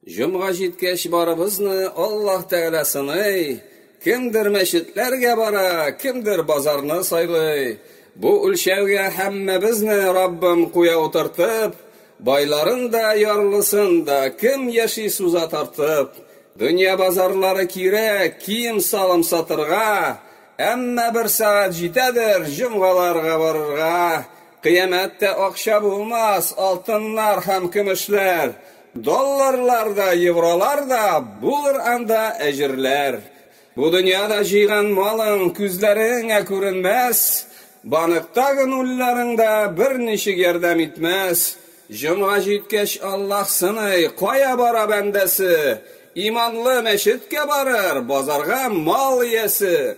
Җомга җиткәч барыбызны Аллаһ Тәгалә сыный. Кемдер мәчетләргә бара, кемдер базарны сайлый. Бу үлчәүгә һәммәбезне Раббым куя утыртып, байларын да, ярлысын да, кем яши суза тартып. Дөнья базарлары кирәк, кием-салым сатырга, әмма бер сәгать җитәдер җомгаларга барырга. Кыямәттә акча булмас, алтыннар һәм көмешләр, долларлар да, евролар да, булыр анда әҗерләр. Бу дөньяда җыйган малың күзләреңә күренмәс, банктагы нулларың да берничек ярдәм итмәс. Җомга җиткәч, Аллаһ сыный, кая бара бәндәсе? Иманлы мәчеткә барыр, базарга мал иясе.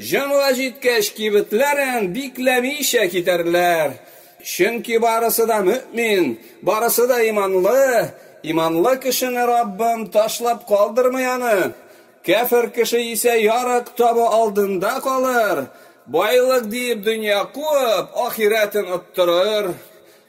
Җомга җиткәч, кибетләрен бикләмичә китәрләр. Чөнки барысы да мөэмин, барысы да иманлы. Иманлы кешене Раббым ташлап калдырмый аны. Кяфер кеше исә ярык табу алдында калыр, байлык диеп дөнья куып, ахирәтен оттырыр.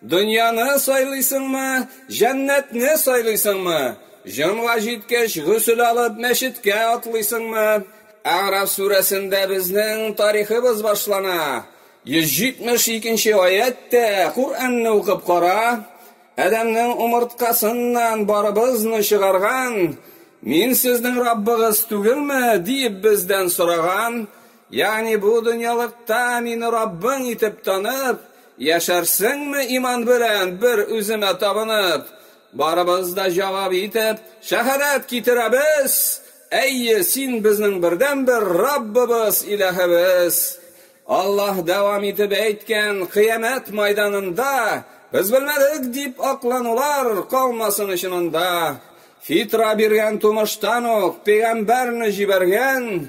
Дөньяны сайлыйсыңмы, җәннәтне сайлыйсыңмы? Җомга җиткәч, гөсел алып, мәчеткә атлыйсыңмы? Әгъраф сүрәсендә безнең тарихыбыз башлана. 172 нче аятьтә, Коръәнне укып кара, Адәмнең умырткасыннан барыбызны чыгарган, Мин сезнең Раббыгыз түгелме? диеп бездән сораган, Ягъни бу дөньялыкта мине Раббың итеп танып, яшәрсеңме иман белән, бер Үземә табынып? Барыбыз да җавап итеп, шәһадәт китерәбез, Әйе, Син безнең бердәнбер Раббыбыз, Илаһыбыз! Аллаһ дәвам итеп әйткән, Кыямәт мәйданында без белмәдек дип акланулар калмасын өчен анда. Фитра биргән тумыштан ук пәйгамбәрне җибәргән,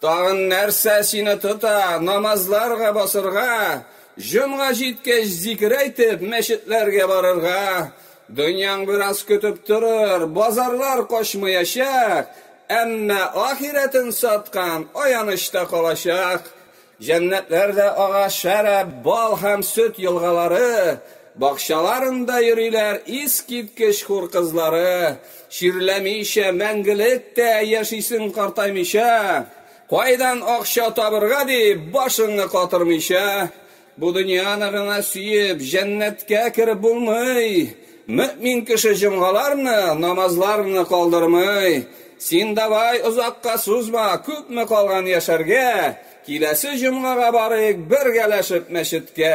Тагын нәрсә сине тота, намазларга басырга, җомга җиткәч зикер әйтеп, мәчетләргә барырга? Дөньяң бераз көтеп торыр, базарлар качмыячак, әмма ахирәтен саткан аяныч та калачак. Җәннәтләрдә ага шәраб, бал һәм сөт елгалары, бакчаларында йөриләр искиткеч хур кызлары. Чирләмичә мәңгелек тә яшисең картаймыйча, Кайдан акча табырга дип башыңны катырмыйча, Бу дөньяны гына сөеп җәннәткә кереп булмый, Мөэмин кеше җомгаларны, намазларны калдырмый. Син давай озакка сузма, күпме калган яшәргә, Киләсе җомгага барыйк бергәләшеп мәчеткә.